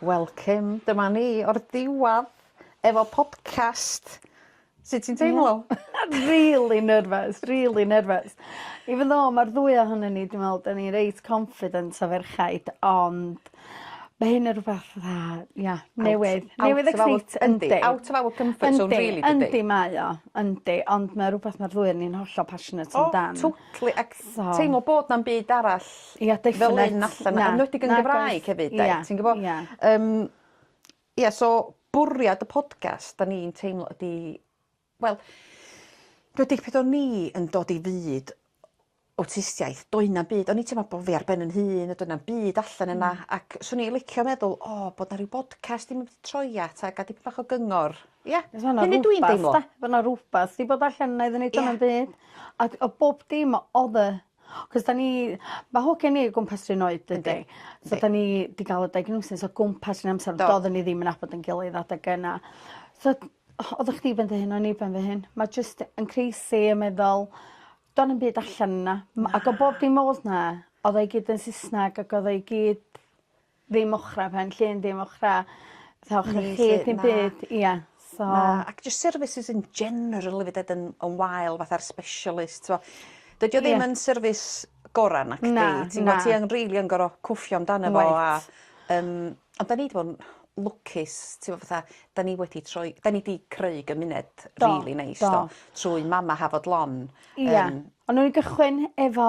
Welcome, dyma ni o'r diwadd efo podcast. Sut ti'n teimlo? Rili nerfys rili nerfys. Even though ma'r ddwy ohonyn ni dwi me'wl 'dyn ni reit confident o ferchaid ond ma' hyn yn rwbath fatha ia newydd newydd exciting. Yndi out of our comfort zone rili dydi? Yndi mae o yndi ond ma' rwbath ma'r ddwy o ni'n hollol passionate amdan. O totally ag teimlo bod 'na'm byd arall Ia definate. Fel un allan 'na. Yn enwedig yn Gymraeg hefyd 'de? Ia. Ti'n gwbo? Ia. Yym ia so bwriad y podcast 'dan ni'n teimlo ydi wel dwi dipyn o ni yn dod i fyd awtistiaeth doe' 'na'm byd o'n i teimlo bo' fi ar ben 'yn hun a doedd na'm byd allan yna ac swn i licio meddwl o bod 'na ryw bodcast i mynd i troi at a ga'l dipyn bach o gyngor. Ia? Hynny dw i'n deimlo. Bo' 'na rwbath 'di bod allan 'na iddon ni doe' 'na'm byd. Ac o bob dim o'dd y 'C'os 'dan ni ma' hogia ni o gwmpas 'run oed dydi? Yndi yndi. So 'dan ni 'di ga'l y diagnosis o gwmpas 'run amser... Do. ...do'ddon ni ddim yn nabod 'yn gilydd adeg yna. So o- oddach chdi ben dy hun o'n i ben fy hun. Ma' jyst yn crazy yn meddwl do'n na'm byd allan yna. Na. M- ag o bob dim o'dd 'na o'dd o i gyd yn Sysnag ag o'dd o i gyd ddim ochra pen llun dim ochra fatha ochra chwith dim byd ia so... Na ac jyst services in general efyd 'ed yn yn wael fatha'r specialist t'mo'. Dydi o ddim yn service gora' nacdi? Na na. Ti'n gwbo' ti yn rili yn gor'o' cwffio amdano fo a yym ond 'dan ni 'di bo' 'n lwcus t'mo' fatha 'dan ni wedi troi 'dan ni 'di creu gymuned rili neis do? Do. Trwy Mama Hafod Lon. Ia. Yym. On' newn ni gychwyn efo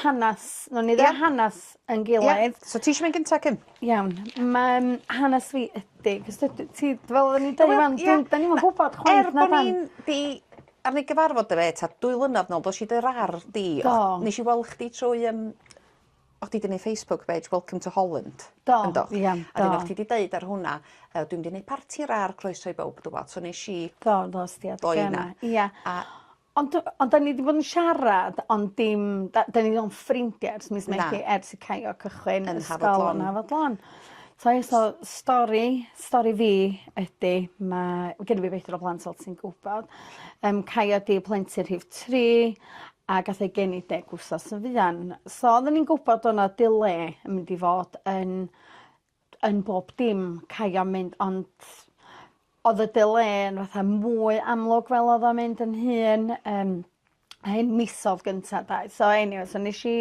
hanas nown ni ddeud hanas ein gilydd. Ia. So ti isio mynd gynta Kim? Iawn. Ma'n hanas fi ydi 'c'os dw- dwyt ti fel oddwn i'n deud rŵan dw- 'dan ni'm yn gwbod chwaith na 'dan? Er bo' ni'n 'di ar ôl gyfarfod efo 'i tad dwy flynadd nôl do nesh i dy rar di. Do. Nesh i wel' chdi trwy yym O' chdi 'di neu' Facebook page welcome to Holland. Do. Yndo? Ia do. A 'dyn o' chdi 'di deud ar hwnna yy dwi mynd i neud parti rar croeso i bowb dwbwl so nesh i... Do do es di at gema. ...doi 'na. Ia. A... Ond do- ond 'dan ni 'di bod yn siarad ond dim 'da- 'dan ni ond ffrindie ers mis Medi... Na. ...ers i Caio cychwyn ysgol... Yn Hafod Lon. ...yn Hafod Lon. So ie so stori stori fi ydi ma' genno fi beithro o blant fel ti'n gwbod yym Caio 'di plentyn rhif tri a gath ei geni deg wsos yn fuan. So odden ni'n gwbod do' 'na dile yn mynd i fod yn yn bob dim caio mynd ond odd y dile yn fatha mwy amlwg fel odd o'n mynd yn hŷn yym a un misodd gynta 'de so eniwe so nesh i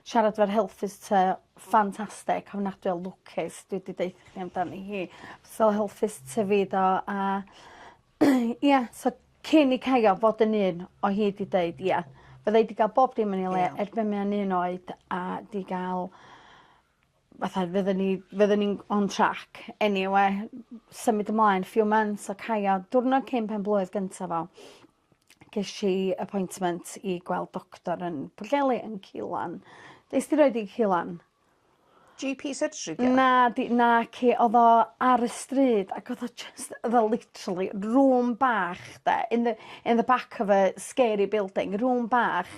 siarad 'fo'r health visitor ffantastic ofnadwy o lwcus dwi 'di deutho chi amdani hi. So health visitor fi do a Ia so cyn i Caio fod yn un o hyd i deud ia fydda i 'di ga'l bob dim yn ei le... Ia. ...er be' mae o'n un oed a 'di ga'l fatha fydden ni fydden ni'n on track eniwe symud ymlaen few months a Caio diwrnod cyn pen-blwydd gynta fo gesh i appointment i gweld doctor yn Pwllheli yn Cîlan. Nest ti roid 'i i Cîlan? GP surgery 'di o? Na 'di naci odd o ar y stryd ac odd o jyst odd o literally room bach 'de in the in the back of a scary building room bach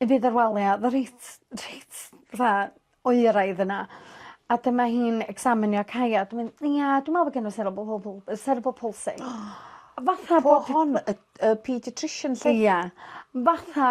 i fydd ar wal ia o'dd o reit reit fatha oeraidd yna a dyma hi'n ecsaminio Kaya a dyma 'i'n ia dwi me'wl bo' gen n'w cerebral palsy yy cerebral palsy. Fatha bo' hon y y paediatrician 'lly? Ia fatha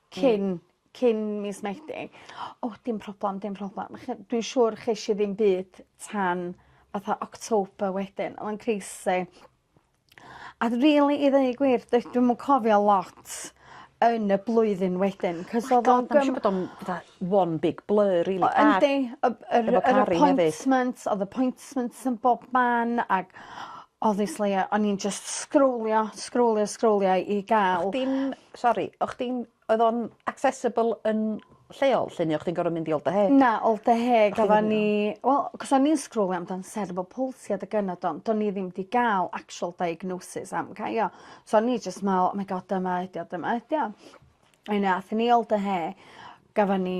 cyn cyn mis Medi. O dim problam dim problam ch- dwi siŵr chesh i ddim byd tan fatha October wedyn o'dd o'n crazy. A d- rili i ddeu gwir doe- dwi'm yn cofio lot yn y blwyddyn wedyn 'c'os odd o'n gym-... Siŵr bod o'n fatha one big blur rili a... Yndi y b- yr yr appointments o'dd appointments yn bob man ag obviously o- o'n i'n jyst sgrowlio sgrowlio sgrowlio i ga'l... O'ch chdi'n Sori, o' chdi'n... Oedd o'n accessible yn lleol 'lly ne' o' chdi'n gorod mynd i Ol Deheg? Na Ol Deheg oddan ni wel 'c'os o'n i'n sgrowlio amdan cerebral palsy adeg yna do- do'n i ddim 'di ga'l actual diagnosis am cy- io so o'n i jyst me'wl oh my God dyma ydi o dyma ydi o. Yn ath ni Ol Deheu gafon ni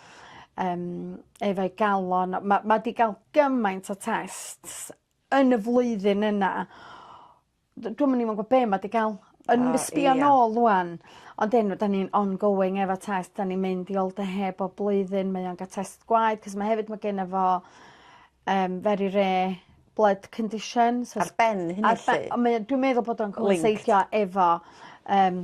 um, efo'i galon. Mae ma di gael gymaint o tests yn y flwyddyn yna. Dwi'n mynd i'n gwybod be mae di gael. Yn oh, sbio yeah. nôl rwan. Ond enw, da ni'n ongoing efo test, da ni'n mynd i ol dy heb o blwyddyn, mae o'n gael test gwaed, cos mae hefyd mae gen efo um, very rare blood condition. So ar ben hynny lle? Dwi'n meddwl bod o'n cwmseithio efo um,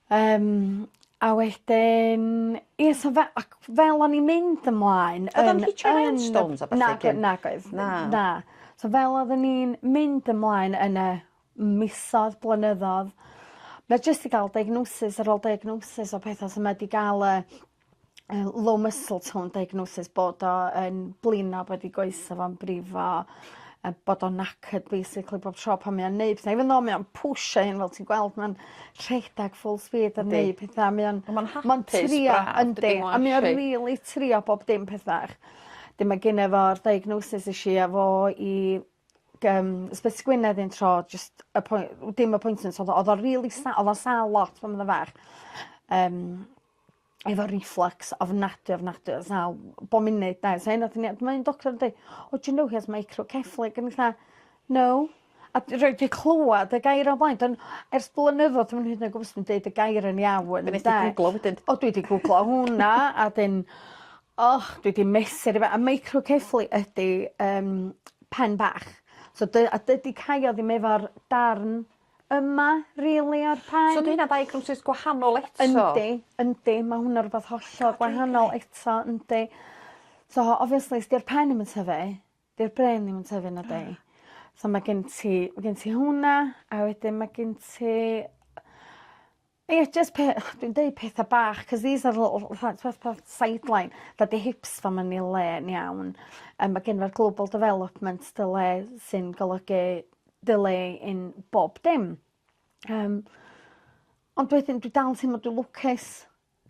Yym a wedyn ie so fe- ac fel o'n i'n mynd ymlaen yn yn... O'dd o'n hitio ar stones a ballu cyn... Nage- nagoedd. Na. Na. So fel oddwn i'n mynd ymlaen yn y misodd blynyddodd ma' jyst 'di ga'l diagnosis ar ôl diagnosis o petha so ma' 'di ga'l y yy low muscle tone diagnosis bod o yn blino bod 'i goese fo'n brifo a bod o'n knackered basically bob tro pan mae o'n neud petha even though mae o'n pwsio 'i hun fel ti'n gweld ma'n rhedeg full speed yn neu' petha mae o'n... On' ma'n hapus braf. ...ma'n trio yndi a mae o rili trio bob dim pethach. 'dyn ma' gene fo'r diagnosis esh i â fo i g- yym ysbyty Gwynedd un tro jyst appoint- dim appointment odd o odd o rili sa- odd o'n sâl lot pan odd o'n fach yym efo reflux ofnadwy ofnadwy o sal bob munud 'de sa hynna wrth 'yn o'dd ma' un doctor yn deu' oh do you know he has microcephaly o'n i fatha no a d- rwy 'di clŵad y gair o blaen don- ers blynyddodd dwi'm hyd yn oed gwbo os dwi'n deud y gair yn iawn 'de. Be' nes di gwglo wedyn? O dwi 'di gwglo hwnna a 'dyn o dwi 'di mesur i fe- a microcephaly ydi yym pen bach so dy- a dydi caio ddim efo'r darn yma rili o'r pen. So 'di hynna ddiagnosis gwahanol eto? Yndi yndi ma' hwnna rwbath hollol gwahanol eto yndi. So obviously 's 'di'r pen 'im yn tyfu 'di'r brên ddim yn tyfu nadi? So ma' gen ti ma' gen ti hwnna a wedyn ma' gen ti Ie jyst pe- o dwi'n deud petha bach 'c'os these are little fatha t'mod fatha sideline that the hips fam yn 'i le yn iawn yym ma' gin 'r global development delay sy'n golygu delay in bob dim. Yym. Ond wedyn dwi dal yn teimlo dwi lwcus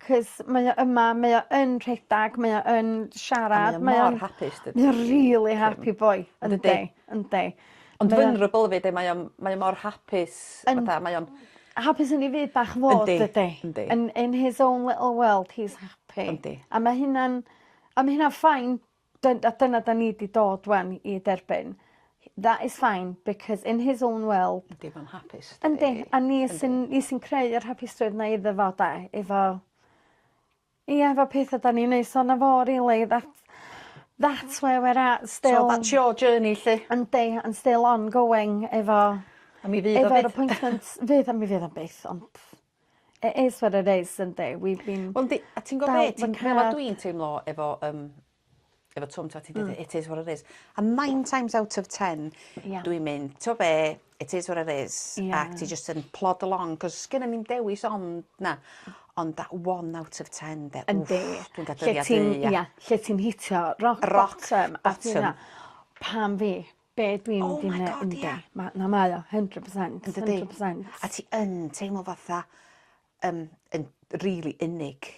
'c'os mae o yma mae o yn rhedag mae o yn siarad mae o'n... A mae o mor hapus dydi? Mae o rili happy boy. Yndi. Yndi. Ond vulnerable efyd yy mae o mae o mor hapus fatha mae o'n... Hapus yn 'i fyd bach fo dydi? Yndi yndi yndi. Yn in his own little world he's happy. Yndi. A ma' hynna'n a ma' hynna'n fine dyn- a dyna 'dan ni 'di dod ŵan i derbyn he that is fine because in his own world... Yndi ma'n hapus dydi? Yndi a ni sy'n ni sy'n creu yr hapustrwydd 'na iddo fo 'de efo Ie efo petha 'dan ni'n neud sona fo rili that that's where we're at still. So that's your journey 'lly. Yndi I'm still on going efo... A mi fydd o byth. ...efo'r appointments fydd a mi fydd o byth ond it is what it is yndi we've been... Wel yndi a ti'n gwbo be' ti'n meddwl a dwi'n teimlo efo yym efo Twm t'o' ti deud it is what it is. A nine times out of ten... Ia. ...dwi'n mynd t'o' be' it is what it is... Ia. ...ac ti jyst yn plod along 'c'os sgennon ni'm dewis ond 'na. Ond that one out of ten 'de wff... Yndi. ...dwi'n ga'l dyddia' du ia. Ia lle ti'n hitio rock bottom... Rock bottom. ...a ti me'wl pam fi? Be' dwi'n mynd i neu-... Oh my God ia. ...yndi ma' na mae o hundred percent. Yndydi? Hundred percent. A ti yn teimlo fatha yn yn rili unig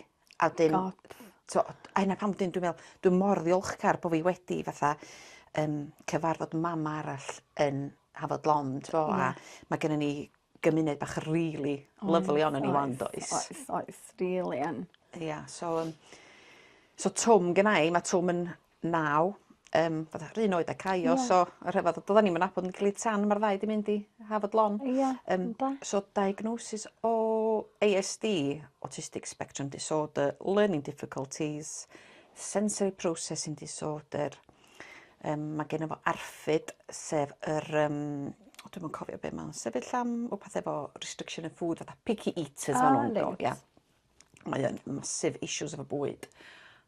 a 'dyn... God. ...t'o' a hynna pam 'dyn dwi me'wl dwi mor ddiolchgar bo' fi wedi fatha yym cyfarfod mam arall yn Hafod Lond do a... Ie. ...ma' gynnon ni gymuned bach rili lyfli onno ni 'wan does? Oes oes oes rili yn. Ia so yym so Twm gennai ma' Twm yn naw yym fatha 'r un oed â Caio... Ie. ...so y rhyfedd a do'ddan ni'm yn nabod 'n gilydd tan ma'r ddau 'di mynd i Hafod Lon. Ia. Yym. Yn do? So diagnosis o Ay Ess Dee autistic spectrum disorder learning difficulties sensory processing disorder yym ma' genno fo ARFID sef yr yym o dwi'm yn cofio be' ma'n sefyll am wpath efo restriction of food fatha picky eaters ma' nw'n... O reit. ...ia. Mae o'n massive issues efo bwyd.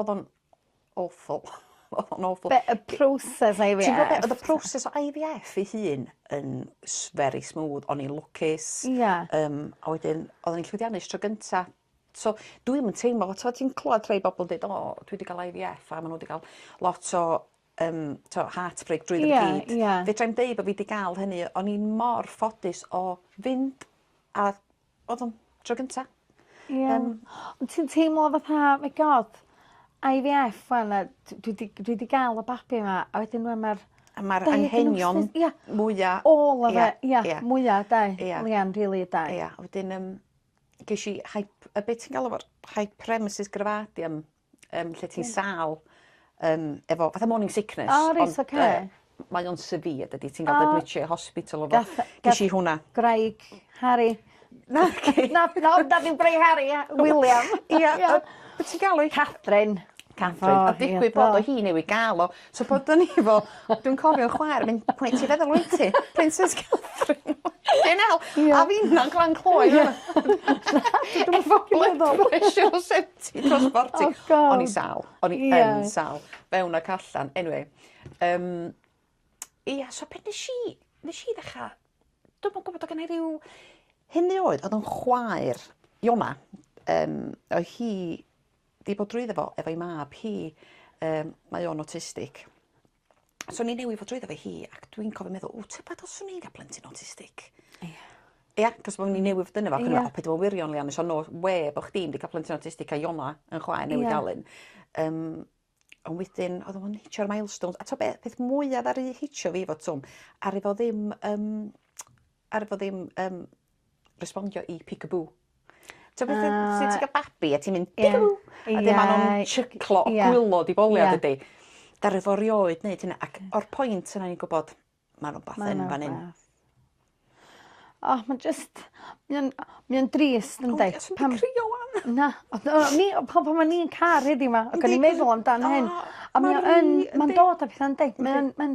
Odd o'n awful. Odd o'n awful. Be' y proses IVF? Ti'n gwbo be' odd y proses o IVF ei hun yn s- very smooth o'n i'n lwcus. Ia. Yym a wedyn oddwn i'n llwyddiannus tro gynta. So dwi'm yn teimlo fel t'mo' ti'n clŵad rhei bobol deud o dwi 'di ga'l Eye Vee Eff a ma' n'w 'di ga'l lot o yym t'o' heartbreak drwyddo i gyd. Ia ia. Fedrai'm deu bo' fi 'di ga'l hynny o'n i mor ffodus o fynd a Odd o'n tro gynta. Ie. Yym. Ond ti'n teimlo fatha my God Eye Vee Eff ŵan a d- dwi 'di dwi 'di ga'l y babi 'ma a wedyn rŵan ma'r... A ma'r anghenion... Ia. ...mwya... All of it ia. Ia. Mwya 'de? Ia. Mwya yn rili 'de? Ia wedyn yym gesh i hyp- yy be' ti'n galw fo hyperemesis gravidium yym lle ti'n sâl yym efo fatha morning sickness. O reit oce. Ond yy mae o'n severe dydi ti'n ga'l dy admitio i hospital efo... Gath yy... ...gesh i hwnna. ...gwraig Harri. Naci. Na na na dim gwraig Harri ia William. Ia o- be' ti'n galw 'i? Catrin. Catrin. A digwydd bod o hi newydd ga'l o So bod o'n i fel dwi'n cofio'n chwaer yn mynd pwy ti feddwl wyt ti? Princess Catherine. Dim el. Ie. A finna'n Glan Clwyd Ie. Dwi ddim yn ffycin meddwl. Efo pressure senti dros forty. Oh God. O'n i sal. O'n i Ie. yn sal. Fewn ac allan. Anyway. Yym Ia so be' nesh i nesh i ddechra dwi'm yn gwbod o' gennai ryw hynny oedd o'dd o'n chwaer Iona yym oedd hi 'di bod drwyddo fo efo'i mab hi yym mae o'n awtistig. So ni newydd fod drwyddo fe hi ac dwi'n cofio meddwl ww tybed os swn i'n ga'l plentyn awtistig? Ia. Ia 'c'os bo' ni newydd fod yno fo ac o'n i me'wl o paid â bo' yn wirion Leanne so no wê bo' chdi 'im 'di ca'l plentyn awtistig a Iona yn chwaer newydd ga'l un. Yym on' wedyn o'dd o'm yn hitio'r milestones a t'o' be' peth mwya ddaru hitio fi efo Twm aru fo ddim yym aru fo ddim yym respondio i peek-a-boo. T'o' beth yw... Yy. ...pryd ti'n ca'l babi a ti'n mynd peek-a-boo. Ie. Ie. A 'dyn ma' nw'n shiclo o gwilo di bowlio dydi? Ie. Ddaru fo rioed neud hynna ac o'r point yna o'n i'n gwbod ma' rwbath yn fan 'yn. Ma' 'na rwbath. O ma' jyst mae o'n mae o'n drist yndi? Pam... O dwi'm yn crio 'wan. Na o do- o'n i o pan pan o'n i'n car heddiw 'ma ag o'n i'n meddwl amdan hyn. O! Ma'n wych yndi? A mae o yn ma'n dod a petha yndi? Mae o'n ma'n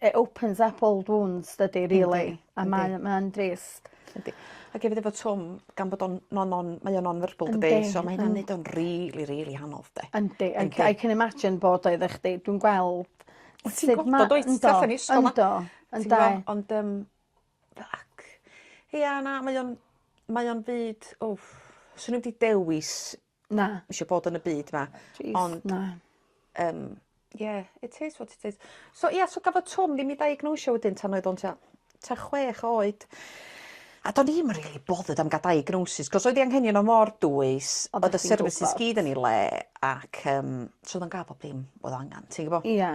It opens up old wounds dydi rili. Yndi yndi. A mae o mae o'n drist. Yndi. Ac efyd efo Twm gan bod o'n non non mae o non verbal dydi? Yndi. So ma' hynna'n neud o'n rili rili anodd 'de? Yndi I ca- I can imagine bod o efo chdi dwi'n gweld Wyt ti'n gwbod wyt? Yndw yndw yndw. Ond yym ac ia na mae o'n mae o'n fyd wff swn i'm 'di dewis Na. Isio bod yn y byd 'ma. Plîs. Ond... Na. Yym. Ie it is what it is. So ia so gafodd Twm ddim 'i ddiagnosio wedyn tan oedd o'n tua tua chwech oed. A do'n i'm yn rili bothered am ga'l diagnosis 'c'os oedd 'i anghenion o mor dwys o'dd y services gyd yn 'i le ac yym so o'dd o'n ga'l bob dim o'dd o angan ti gwbo? Ia.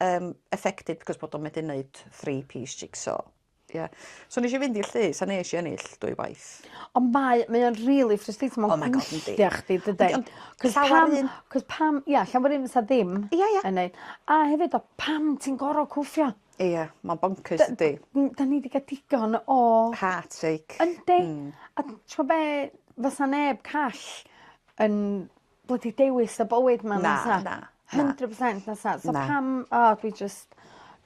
um, affected because bod o'n medru wneud three piece jigsaw. Yeah. So nes i fynd i'r llys a nes i ennill dwy waith. Ond mae, mae o'n really frustrating. Mae'n oh my god, yndi. chdi, dydy. Ond llawer un... Cos pam, ia, yeah, llawer un fysa ddim yeah, yeah. yn neud. A hefyd, o, pam ti'n gorau cwffio? Ie, yeah, mae'n bonkers, ydy. Da ni wedi cael digon o... Heartache. Yndi. Mm. A ti'n be, fysa neb call yn blydi dewis y bywyd 'ma na tha. Na na. Hundred percent na tha. So pam o dwi jyst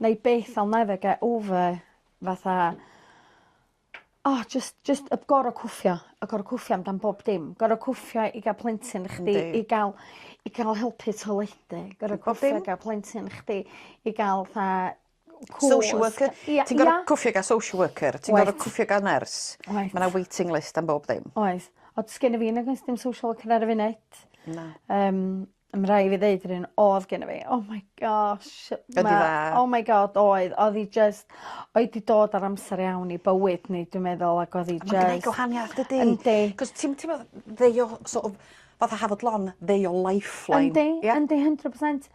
'nai byth I'll never get over fatha o jyst jyst y gora' cwffio y gora' cwffio am dan bob dim. Gora' cwffio i ga'l plentyn i chdi... Yndi. ...i ga'l i ca'l helpu toiledu gora' cwffio i ga'l plentyn chdi i ga'l 'tha cwsg. Social worker. Ia. Ti'n gor'o' cwffio gan social worker ti'n gor'o' cwffio gan nyrs. Wyt. Ma' 'na waiting list am bob dim. Oes. Ond sgenna fi nag oes dim social worker ar y funud. Na. Yym a ma' rai' fi ddeud yr un odd genno fi oh my gosh ma'... Ydi dda? ...oh my God oedd. Odd 'i jyst o'i 'di dod ar amser iawn i bywyd ni dwi'n meddwl ag odd 'i jys... A ma'n gneud gwahaniath dydi? Yndi. 'C'os ti'm ti'mo' they o- sort of fatha Hafod Lon they o lifeline. Yndi. Ia? Yndi hundred percent.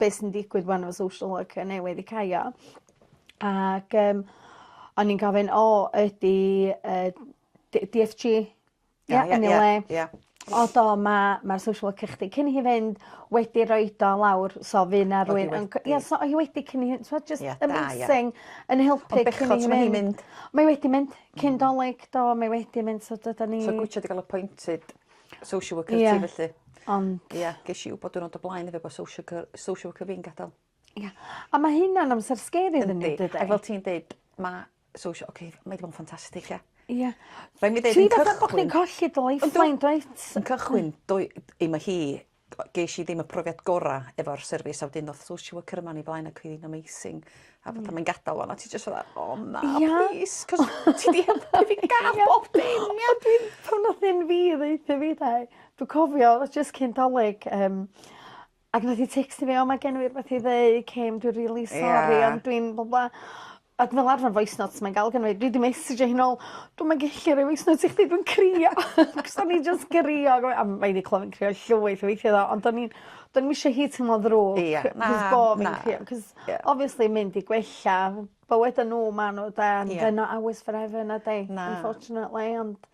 be' sy'n digwydd 'wan efo social worker newydd i Caio ac yym o'n i'n gofyn o ydi yy Dee Dee Eff Gee ia yn ei le. Ia. O do ma' ma'r social worker chdi cyn i hi fynd wedi roid o lawr so fy' 'na rywun yn c- ia so o' hi wedi cyn i hi t'mod jyst... Ia da ia. ...amazing yn helpu cyn i hi fynd. Mae wedi mynd cyn 'Dolig do mae wedi mynd so dydan ni... So gw- isio 'di ga'l appointed social worker ti felly. Ie ond... Ia gesh i wbod diwrnod o blaen efo bo social cyr- social worker fi'n gadel. Ia. A ma' hynna'n amser sgeri iddyn ni dydi? A fel ti'n deud ma' social oce mae 'di bod yn ffantastig ia? Ia. Rhaid mi ddeud yn cychwyn... Ti fatha bo' chdi'n colli dy lifeline dwyt? Yn cychwyn doe- 'im o hi gesh i ddim y profiad gora' efo'r service a wedyn ddoth social worker yma o'n i flaen ac oedd 'i'n amazing a fatha mae'n gadal ŵan a ti jyst fatha o na... Ia? ...plîs 'c'os ti 'di helpu fi ga'l bob dim ia? Ond dwi'n pan nath un fi ddeuthum fi 'tha i dwi cofio o'dd o jyst cyn 'Dolig yym ac nath 'i tecsto fi o mae gen i rwbeth i ddeu Kim dwi rili sori... Ia. ...ond dwi'n blah blah Ac fel arfer voice notes mae'n ga'l gynna fi dwi 'di messejo hi nôl dwi'm yn gellu roi voice note i chdi dwi'n crio. 'C'os o'n i jys crio a gofyn a mae 'di clywed fi'n crio llwyth o weithia' do ond o'n i'n do'n i'm isio hi teimlo'n ddrwg... Ia na na. ...'c'os bo' fi'n crio 'c'os obviously mynd i gwella bywyda n'w ma' n'w 'de and they're not ours forever na 'di? Na. Unfortunately ond...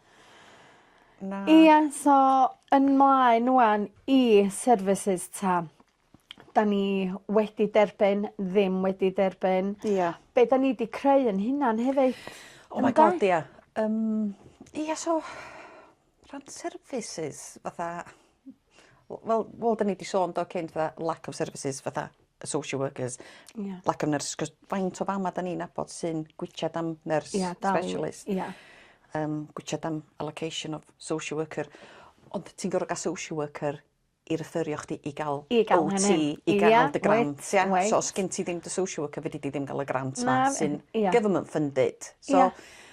Na. ...ia so yn mlaen ŵan i services 'ta. 'dan ni wedi derbyn ddim wedi derbyn. Ia. Be' 'dan ni 'di creu 'yn hunan hefyd. Oh my God ia. Yym ia so rhan services fatha w- wel wel 'dyn ni 'di sôn do cyn fatha lack of services fatha y social workers. Ia. Lack of nurses 'c'os faint o fama 'dan ni'n nabod sy'n gwitsiad am nyrs... Ia dal. ...specialist. Ia. Yym gwitsiad am allocation of social worker ond ti'n gor'o' ga'l social worker i refferio chdi i ga'l... I ga'l hynny. ...OT i ga'l... Ia wyt. ...dy grant ia? Wyt. So os sgin ti ddim dy social worker fedri di ddim ga'l y grant 'ma... Na. ...sy'n... Ia. ...government funded. Ia. So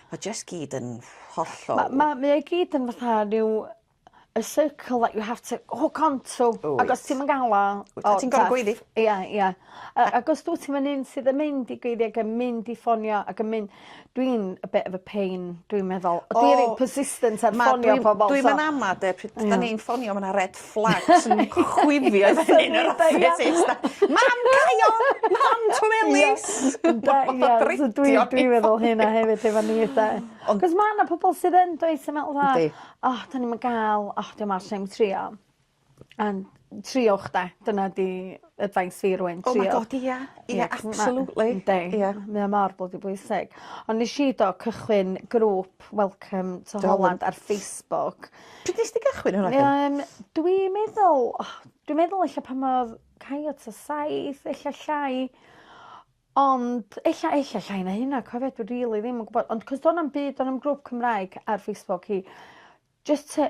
ma' jyst gyd yn hollol... Ma' ma' mae o i gyd yn fatha ryw a circle that you have to hook on to. Wyt. Ag os ti'm yn ga'l o... Wyt. ...o ti'n gor'o' gweiddi. Ia ia. A ag os dwt ti'm yn un sydd yn mynd i gweiddi ag yn mynd i ffonio ag yn mynd Dwi'n a bit of a pain dwi'n meddwl. O! Dwi reit persistent ar ffonio pobol so... Dwi'm yn ama' 'de pryd 'dan ni'n ffonio ma' 'na red flags yn chwifio i fyny yn yr office. Mam cau o! Mam Twm Ellis! Ynde ie so dwi dwi meddwl hynna hefyd efo ni 'de. Ond... 'C'os ma' 'na pobol sydd yn does yn meddwl fatha... Yndi. ...o 'dan ni'm yn ga'l o 'di o mor shame trio. Yn triowch 'de dyna 'di advice fi rŵan triowch. Oh my God ia ia absolutely. Yndi. Ia. Mae o mor blydi bwysig. Ond nesh i do cychwyn grŵp welcome to Holland ar Facebook. Pryd nes di gychwyn hwnna de? Yym dwi meddwl o dwi meddwl ella pan odd Kayo t'a saith ella llai ond ella ella llai na hynna cofio dwi rili ddim yn gwbod ond 'c'os do' 'na'm byd do' na'm grŵp Cymraeg ar Facebook i jyst tŷ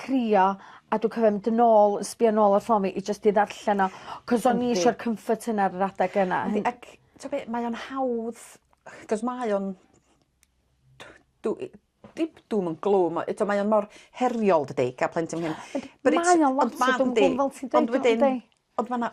crio a dwi cofio mynd yn ôl yn sbio nôl ar ffôn fi i jyst i ddarllen o 'c'os o'n i isio'r comfort yna ar yr adeg yna. Yndi ac t'o' be' mae o'n hawdd 'c'os mae o'n dw- dw i dim doom and gloom ma' eto mae o mor heriol dydi ga'l plentyn myn' ... Ond mae o'n lot o dwm a gloom fel ti'n deud . ...ond wedyn ond ma' 'na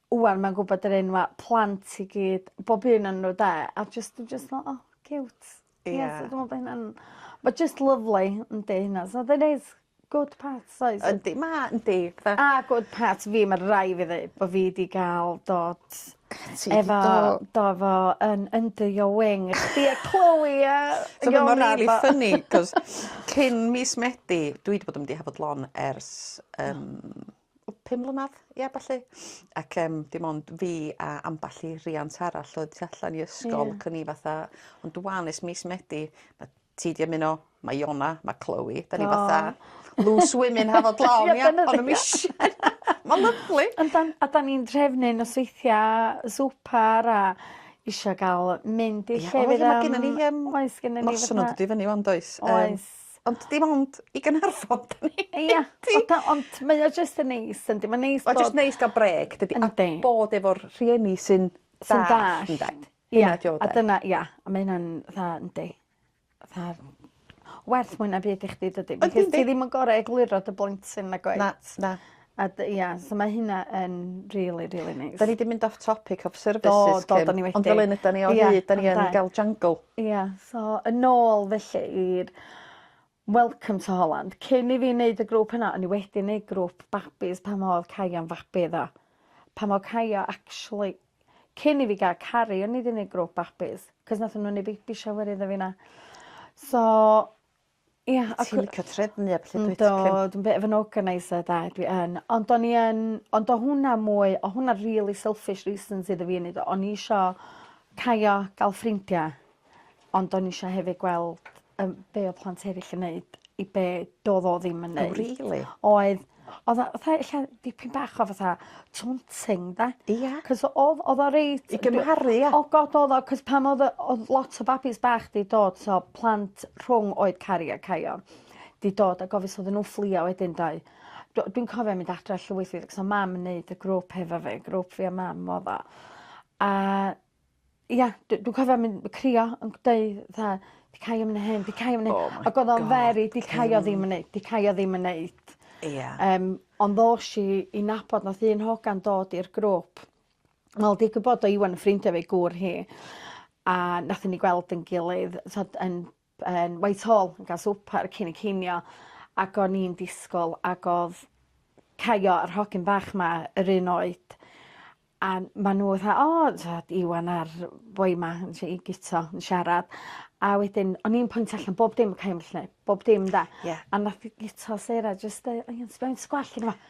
ŵan mae'n gwbod yr enwa' plant i gyd bob un on' n'w 'de a jyst dwi jyst fel o ciwt. Ie. Ie so dwi me'wl bo' hynna'n ma' jyst lyfli yndi hynna so fe'n neis. Good parts oes? Yndi ma' yndi fe... A good parts fi ma' rai' fi ddeu bo' fi 'di ga'l dod... Ti 'di do-... ...efo do efo yn under your wing. Chdi a Chloe a Ioned a... So ma' rili ffyni 'c'os cyn mis Medi dwi 'di bod yn mynd i Hafod Lon ers yym o pum mlynadd ia ballu ac yym dim ond fi a amball i riant arall oedd tu allan i ysgol... Ie. ...ac o'n i fatha ond ŵan ers mis Medi ma' ti 'di ymuno ma' Iona ma' Chloe 'dan ni fatha... O! ...loose women have a plan ia? Ia dyna ni. Ma'n lyfli. Yndan a 'dan ni'n drefnu nosweithia swpar a isio ga'l mynd i llefydd am... Ia o ia ma' gennon ni yym... Oes gennon ni fatha... ...noson yn dod i fyny ŵan does? Yym. Oes. Ond dim ond i Gaernarfon 'dan ni mynd i. Ia o da- ond mae o jyst yn neis yndi ma'n neis bod... Mae jyst neis ga'l brêc dydi? Yndi. A bod efo'r rhieni sy'n dallt. Sy'n dallt. Ynde? Ia. Hynna 'di o 'de? A dyna ia a ma' hynna'n dda yndi? Fatha werth mwy na byd i chdi dydi? Yndi yndi. Ti ddim yn gor'o' egluro dy blentyn nag wyt? Na na. A dy- ia so ma' hynna yn rili rili neis. 'Dan ni 'di mynd off topic of services Kim. Do do 'dan ni wedi. Ond fel 'yn ydan ni o hyd 'dan ni yn ga'l jungle. Ia so yn ôl felly i'r Welcome to Holland. Cyn i fi neud y grŵp yna o'n i wedi neud grŵp babis pan odd Kaya'm fabi iddo. Pan o' Kaya actually cyn i fi ga'l Cari o'n i 'di neud grŵp babis 'c'os nathon n'w neu' baby shower iddo fi 'na. So Ia a cw-... Ti'n licio trefnu a petha dwyt? Yndw dwi'n bit of an organiser 'de dwi yn ond o'n i yn ond o' hwnna mwy o' hwnna rili selfish reasons iddo fi neud o o'n i isio caio ga'l ffrindia ond o'n i isio hefyd gweld yym be' o' plant eryll yn neud i be' do'dd o ddim yn neud. O rili? Oedd. Odd o fatha ella dipyn bach o fatha taunting 'da? Ia. 'C'os o- odd odd o reit... I gymharu ia? O God odd o 'c'os pan odd y odd lot o babis bach 'di dod so plant rhwng oed caru a caio 'di dod ag ofn odden n'w fflio wedyn 'doedd? Do- dwi'n cofio mynd adre llwyth o mam yn neud y grŵp hefo fi grŵp fi a mam odd o a Ia d- dwi cofio myn' yy crio yn g- deu' 'tha 'di Kai 'im yn neu' hyn 'di Kai 'im yn neu'... Oh my God. ...ag odd o'n very 'di Kai o ddim yn neud 'di Kai o ddim yn neud. Ia. Yym ond ddosh i i nabod nath un hogan dod i'r grŵp wel digwydd bod o Iwan yn ffrindia efo'i gŵr hi a nathon ni gweld 'yn gilydd t'od yn yn Whitehall yn ga'l swper cyn y cinio ac o'n i'n disgwl ag odd Caio yr hogyn bach 'ma yr un oed a ma' n'w fatha o t'od Iwan a'r boi 'ma yn sh- i gito yn siarad a wedyn o'n i'n pwyntio allan bob dim Caio 'lly bob dim 'da. Ie. A nath 'i gito Sarah jyst deu- o iawn ti moyn sgwell arno fo?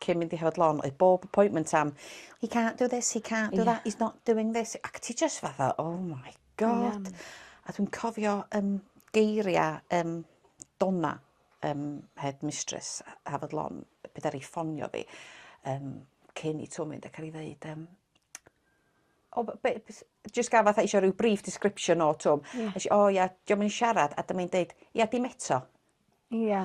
cyn mynd i Hafod Lôn oedd bob appointment am he can't do this he can't do that he's not doing this ac ti jyst fatha oh my God. A dwi'n cofio yym geiria yym Donna yym head mistress Hafod Lôn pryd ddaru ffonio fi yym cyn i Twm mynd ac o'n i ddeud yym o b- be' be' s- jyst ga'l fatha isio ryw brief description o Twm. Nesh i o ia 'di o'm yn siarad a dyma 'i'n deud ia dim eto. Ia.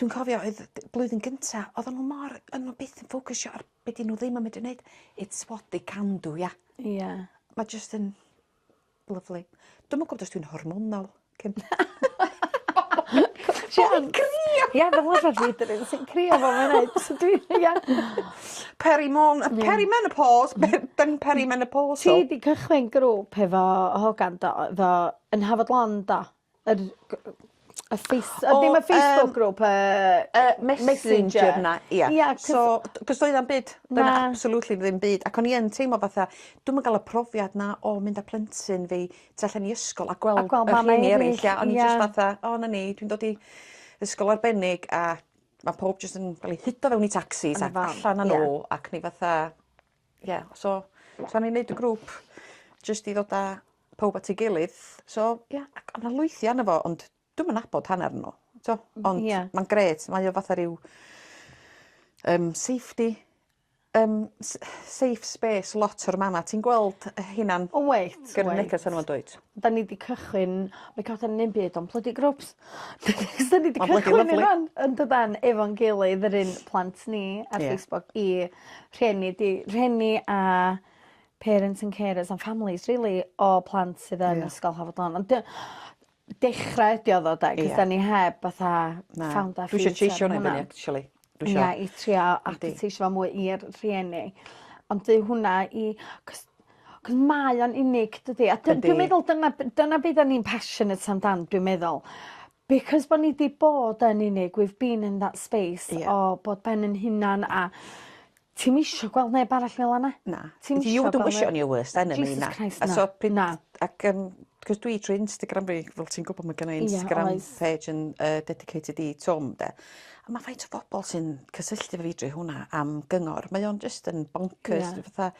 dwi'n cofio oedd d- blwyddyn gynta oddan n'w mor o'n n'w byth yn ffocysio ar be' 'dyn n'w ddim yn medru neud it's what they can do ia? Ia. Ma' jyst yn lyfli. Dwi'm yn gwbod os dwi'n hormonal cyn... Ti'n crio! Ia fel arfar fi dw i sy'n crio fel mae'n neud so dwi ia. Perimon- yy peri-menopos be- byn peri-menopausal. Ti 'di cychwyn grŵp hefo hogan do? Efo yn Hafod Lon do? Yr g- yy y face- yy ddim y Facebook group y yy Messenger. Messenger 'na ia. Ia 'c'os... So d- 'c'os doedd o'm byd... Na. ...doedd 'na absolutely ddim byd ac o'n i yn teimlo fatha dw'm yn ga'l y profiad 'na o mynd â plentyn fi tu allan i ysgol a gweld... A gweld mam eryll. ...y rhieni eryll ia. Ia. O'n i jyst fatha o 'na ni dwi'n dod i ysgol arbennig a ma' powb jyst yn ga'l 'u hudo fewn i tacsis a allan â n'w ac o'n i fatha Ie so so o'n ni'n neud y grŵp jyst i ddod a powb at ei gilydd so ia ac o' 'na lwythi arno fo ond dwi'm yn nabod hannar n'w t'o'? Ond... Ia. ...ma'n grêt mae o fatha ryw yym safety yym s- safe space lot o'r mama ti'n gweld yy hunan... O wyt wyt. ...gyrru neges arno fo yndwyt? 'Dan ni 'di cychwyn we can't say nim byd on' plydi grwps. 'Dyn ni 'di cychwyn i rŵan yndydan efo'n gilydd yr un plant ni ar... Ie. ...Facebook i rhieni di- rhieni a parents and carers and families rili o plant sydd yn... Ie. ...ysgol Hafod Lon ond 'di o dechra ydi o ddo 'de? Ia. 'C'os 'dan ni heb fatha... Na. ...found our feet ar hwnna. Dwi isio actually. Dwi isio... Ie i trio adverteisio fo mwy i'r rhieni. Ond dyw hwnna i 'c'os 'c'os mae o'n unig dydi? A dw- dwi'n meddwl dyna b- dyna be' 'dan ni'n passionate amdan dwi'n meddwl. Because bo' ni 'di bod yn unig we've been in that space... Ie. ...o bod ben 'yn hunan a Ti'm isio gweld neb arall fel yna. Na. Ti'm isio gweld... You don't wish it on your worst enemy na. Jesus Christ na. A so pryd... Na. Ac yym 'c'os dwi trwy Instagram fi fel ti'n gwbo ma' gennai Instagram... Ie oes. ...page yn yy dedicated i Twm 'de. A ma' faint o bobol sy'n cysylltu efo fi drwy hwnna am gyngor mae o'n jyst yn boncyrs... Ie. ...dwi fatha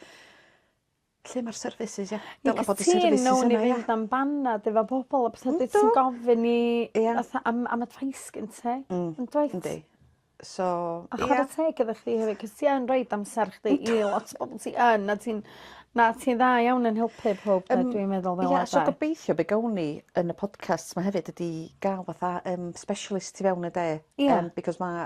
Lle ma'r services ie? Dyle bod y services yna ia? Fi'n cytuno newn ni fynd am banad efo pobol a petha bydd sy'n gofyn i... Ia. ...fatha am am advice gen ti. Hmm. Yndwyt? Yndi. So ia. A chwara teg efo chdi hefyd 'c'os ti yn roid amser chdi i lot o bobol sy yn a ti'n na ti'n dda iawn yn helpu powb 'de dwi'n meddwl fel arfer. Ia so gobeithio be' gawn ni yn y podcast 'ma hefyd ydi ga'l fatha yym specialist tu fewn ynde? Ia. Yym because ma'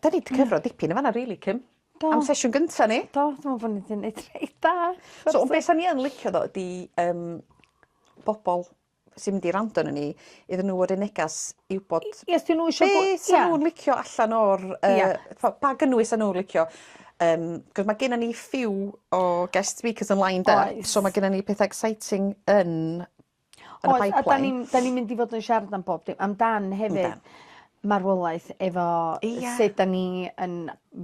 'Dan ni 'di cyfro dipyn yn fan 'na rili Kim. Do. Am sesiwn gynta ni. Do dwi me'wl bo' ni 'di neud reit da. So on' be' sa ni yn licio tho ydi yym bobol sy mynd i wrando ano ni iddyn n'w fod yn negas i wbod... I- ia os 'di n'w isio gwe-... ...be' sa nw'n licio allan o'r yy... Ia. ...po- pa gynnwys sa n'w licio yym 'c'os ma' gennon ni few o guest speakers yn lined up. Oes. So ma' gennon ni petha exciting yn Yn y pipeline. Oes a 'dan ni'n 'dan ni'n mynd i fod yn siarad am bob dim amdan hefyd... Yndan. ...marwolaeth efo... Ia. ...sud 'dan ni yn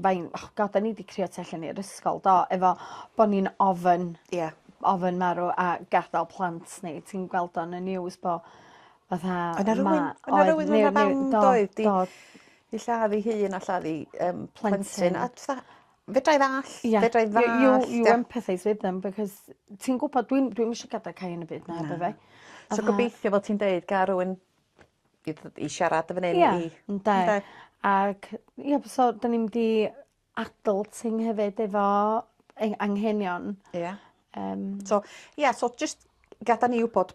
fain- o God 'dan ni 'di crio tu allan i'r ysgol do efo bo' ni'n ofyn... Ia. ...ofyn marw a gadal plant ni ti'n gweld o yn y news bo' fatha ma'... O'dd 'na rywun o' 'na rywun yn y fam doedd 'di... Do do. ...'i lladd 'i hun a lladd 'i yym plentyn a t'fa Fedrai ddall'... Ia. ...fedrai ddallt ia. You you you empathise with them because ti'n gwbod dwi'm dwi'm isio gadal Cai yn y byd 'na efo fe. Na. So gobeithio fel ti'n deud ga' rywun i dd- i siarad efo neu... Ia. ...i... Ynde. Ynde? Ag ia b- so 'dyn ni mynd i adulting hefyd efo ei anghenion. Ia. Yym. So ia so jyst gadal ni wbod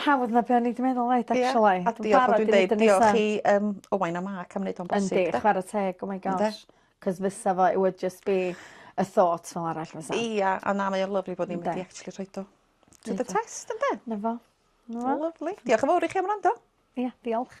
Hawdd na be' o'n i 'di meddwl oedd actually. Ia a diolch fel dwi'n deud diolch i yym Owain a Mark am neud o'n bosib 'de? Yndi chwara teg oh my gosh. Ynde? 'C'os fysa fo it would just be y thought fel arall fysa. Ia a na mae o'n lyfli bod ni'm 'di actually rhoid o to the test ynde? 'Na fo. 'Na fo. Lyfli. Diolch yn fowr i chi am wrando. Ia diolch.